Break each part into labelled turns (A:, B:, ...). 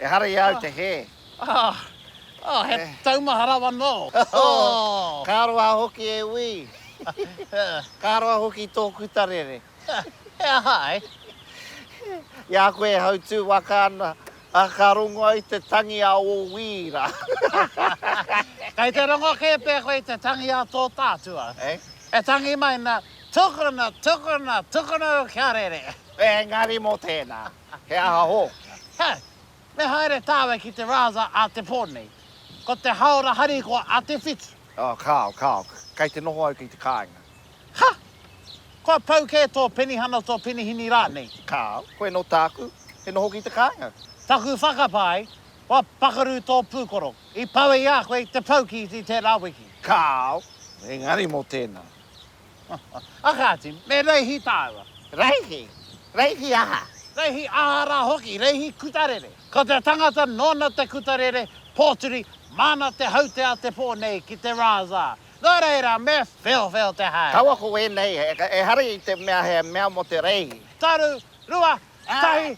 A: Ehara i a au te
B: hē.
A: He taumaha rawa nō. Ka roa hoki
B: e wī. Ka roa hoki tō kuta rere. He aha
A: ai?
B: I a koe e hautū waka ana, ka rongo au i te tangi a ō wī rā.
A: Kei te rongo kē pea koe i te tangi a tō tātua. E tangi mai nā, tukuna, tukuna, tukuna au kia rere. Engari mō
B: tēnā, he aha hoki? He,
A: me haere tāwe ki te rāza a te pō nei. Ko te haora harikoa a Te Whiti. Oh, kāo, kāo.
B: Kei te noho au ki te kāinga. Ha!
A: Kua pau kē tō penihana, tō penihini rānei? Kāo, koe nō
B: tāku, he noho ki te kāinga. Taku whakapae,
A: kua pakaru tō pūkoro. I pawe i a koe te pau ki tērā wiki. Kāo,
B: engari mō tēnā.
A: Aha atu, me reihi tāua. Reihi?
B: Reihi aha? Reihi aha rā
A: hoki, reihi kutarere. Ko te tangata nōna te kutarere, pōturi, māna te haute a te pō nei ki te rāzā. Nō reira, me wheowheo te haere. Kaua ko wēnei,
B: ehara i te mea he mea mō te reihi. Taru, rua,
A: tahi,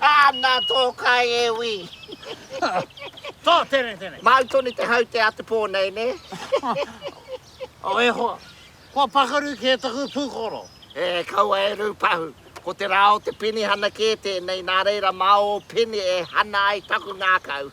B: Ana tō kai e wi.
A: Tō, tēnei, tēnei. Māu tonu te hau
B: te a te pō nei, nē?
A: O, e hoa. Kua pakaru kē taku pūkoro. E, kaua
B: e rūpahu. Ko te rā o te penihana kē tēnei, nā reira mā ō peni e hana ai taku ngākau.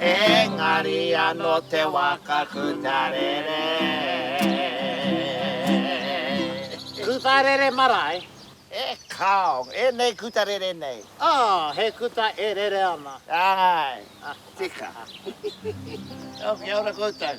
B: Engari ano te waka ku tarere.
A: Ku tarere marae? E
B: kao, enei ku tarere nei. Oh, he kuta
A: e rere ana.
B: Aye, tika. Oh,
A: kia ora
B: koutou.